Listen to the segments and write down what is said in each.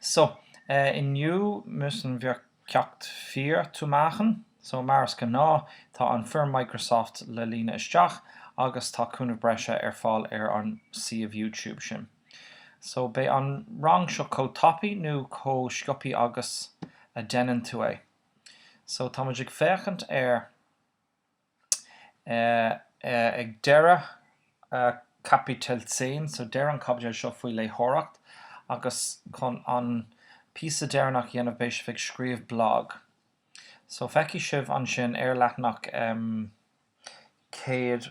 So, inniu müssen wir ceacht vier zu machen. So, mar is gnáth, tá an foirm Microsoft le líonadh isteach agus tá cúnamh breise ar fáil ar an suíomh YouTube sin. So, beidh an rang seo chomh tapaidh nó chomh sciopthaí agus a deineann tú é. So, tá muid ag féachaint ar. Ag deireadh Kapitel 10, so deireadh an chaibidil seo faoi léitheoireacht agus chun an píosa deireanach a dhéanamh beidh sibh ag scríobh blag. So feicfidh sibh ansin ar leathanach 100.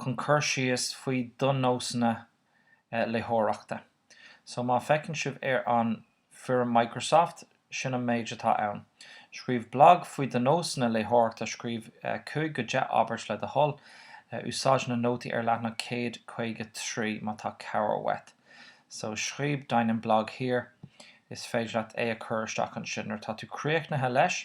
chun cur síos faoi do nósanna léitheoireachta. So má fheiceann sibh ar an foirm Microsoft, sin an méid atá ann. Scríobh blag faoi do nósanna léitheoireachta, scríobh 5-10 abairt le do thoil, úsáid na nótaí ar leathanach 153 má tá cabhair uait. So scríobh deinen Blog hier, is féidir leat é a chur isteach ansin nuair atá tú críochnaithe leis.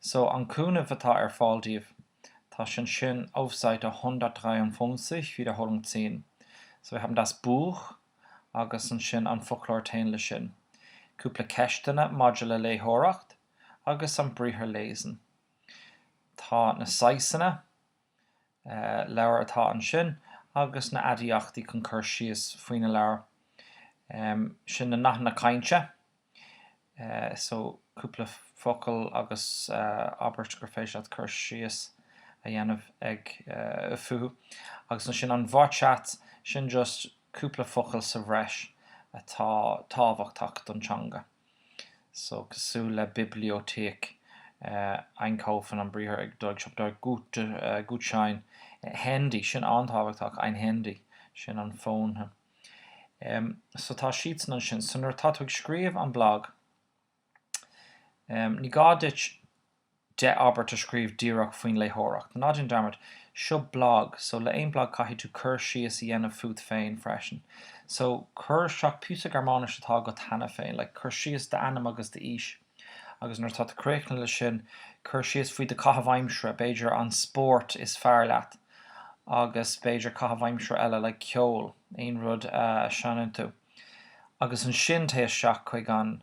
So an cúnamh atá ar fáil daoibh, tá sin sin auf Seite 153 Wiederholung 10. So wir haben das Buch agus ansin an foclóir téann leis sin. Cúpla ceisteanna maidir le léitheoireacht agus an briathar lesen. Tá na saghsanna leabhar atá ansin agus na aidiachtaí chun cur síos faoi na leabhair. Sin na nathanna cainte. So cúpla focal agus abairt gur féidir leat cur síos a dhéanamh ag fúthu. Agus ansin an Wortschatz, sin just cúpla focal sa bhreis atá tábhachtach don teanga. So, cosúil le Bibliothek, einkaufen, an briathar ag dul ag siopadóireacht, gut, Gutschein. Handy, sin an-tábhachtach, ein Handy, sin an fón. Em, so tá siadsan ansin. So nuair atá tú ag scríobh an blag, em, ní gá duit, 10 abairt a scríobh díreach faoin léitheoireacht. Ná déan dearmad, seo blag, so le aon blag caithfidh tú cur síos a dhéanamh fút féin freisin. So cuir isteach píosa Gearmáinis atá agat cheana féin, like cuir síos d'ainm agus d'aois. Agus nuair atá tú críochnaithe leis sin, cuir síos faoi do caitheamh aimsire, b'fhéidir an spórt is fearr leat agus b'fhéidir caitheamh aimsire eile, like ceol, aon rud a seineann tú. Agus ansin téigh isteach chuig an.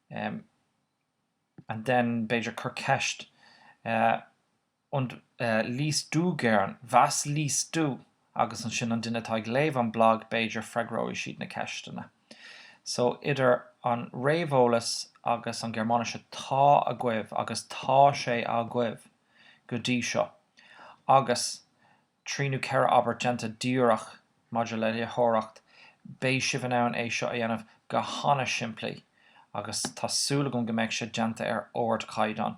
Um and then b'fhéidir cuir ceist uh und uh liest du gern, was liest du? agus ansin an duine atá ag léamh an blag b'fhéidir freagróidh siad na ceisteanna. So idir an réamheolas agus an Gearmáinis atá agaibh agus tá sé agaibh go dtí seo agus trí nó ceithre abairt déanta díreach maidir le léitheoireacht, beidh sibh in ann é seo a dhéanamh go han-simplí agus tá súil agam go mbeidh sé déanta ar ardchaighdeán.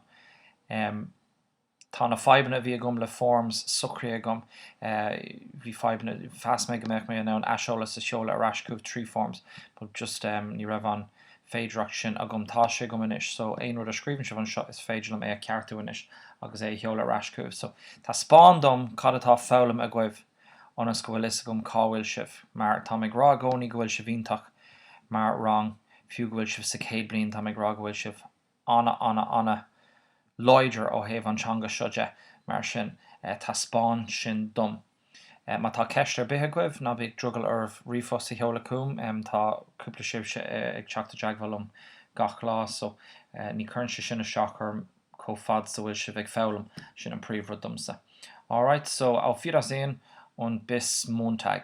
Tá na fadhbanna a bhí agam le forms socraithe agam. Bhí fadhbanna, mheas mé go mbeadh mé in ann aiseolas a sheoladh ar ais chugaibh trí forms but just ní raibh an. féidearthacht sin agam. Tá sé agam anois, so aon rud a scríobhann sibh anseo is féidir liom é a cheartú anois agus é a sheoladh ar ais chugaibh. So taispeáin dom cad atá foghlamtha agaibh ionas go bhfuil fhios agam cá bhfuil sibh. Mar táim ag rá i gcónaí go bhfuil sibh iontach mar rang, fiú go bhfuil sibh sa chéad bliain, táim ag rá go bhfuil sibh an-an-an-láidir ó thaobh an teanga seo de, mar sin taispeáin sin dom. Má tá ceist ar bith agaibh, ná bíodh drogall oraibh ríomhphost a sheoladh chugam, tá cúpla sibhse ag teacht i dteagmháil liom gach lá so ní chuireann sé sin isteach orm chomh fad 's a bhfuil sibh ag foghlaim, sin an príomhrud domsa. Alright, so auf Wiedersehen und bis Montag!